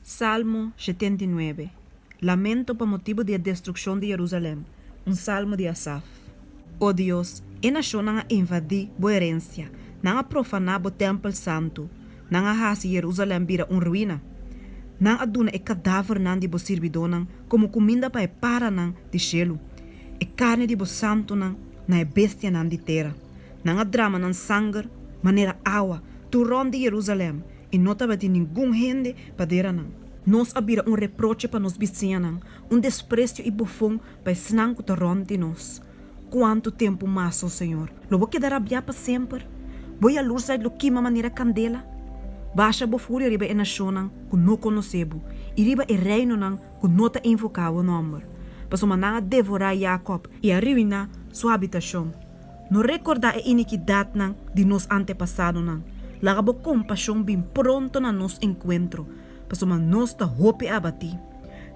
Salmo shetenta i nuebe. Lamento pa motibu di e destrukshon di Jerusalèm. Un salmo di Asaf. O Dios, e nashonnan a invadí bo erensia, nan a profaná bo tèmpel santu, nan a hasi Jerusalèm bira un ruina. Nan a duna e kadávernan di bo sirbidónan komo kuminda pa e paranan di shelu, e karni di bo santunan na e bestianan di tera. Nan a drama nan sanger manera awa tur rònt di Jerusalèm, I no tabatin ningun hende padera nan. Nos a bira un reproche pa nos bisiñanan, un despresio i bofon pa esnan ku ta rònt di nos. Kuantu tempu mas, o Señor? Lo bo keda rabiá pa semper? Bo yalursheid lo kima manera kandela? Basha bo furia riba e nashonnan ku no konosé bo, i riba e reinonan ku no ta invoká bo nòmber, pasobra nan a devorá Jakòb i a riuiná su habitashon. No rekordá e inikidatnan di nos antepasadonan. Laga bo kompashon bin pronto na nos enkuentro, pasobra nos ta hopi abatí.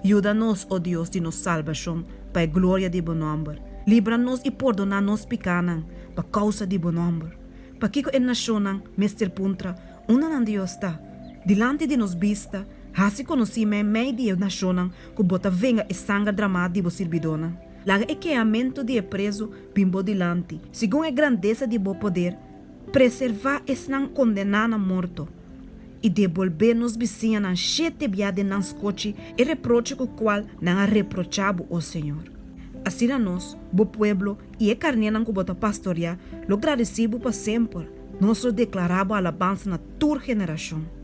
Yuda nos, o Dios di nos salbashon, pa e gloria di bo nòmber. Libra nos i pordoná nos pikánan pa kousa di bo nòmber. Pakiko e nashonnan mester puntra, Unda nan Dios ta? Dilanti di nos bista, hasi konosí mei mei di e nashonnan ku bo ta venga e sanger dramá di bo sirbidónan. Laga e keamentu di e prezu bin bo dilanti. Segun e grandesa di bo poder, preservá esnan kondená na morto, i debolbé nos bisiñanan shete bia den nan skochi e reproche ku kual nan a reprochá bo, o señor. Asina nos, bo pueblo i e karnénan ku bo ta pastoreá, lo gradesí bo pa semper, nos lo deklará bo alabansa na tur generashon.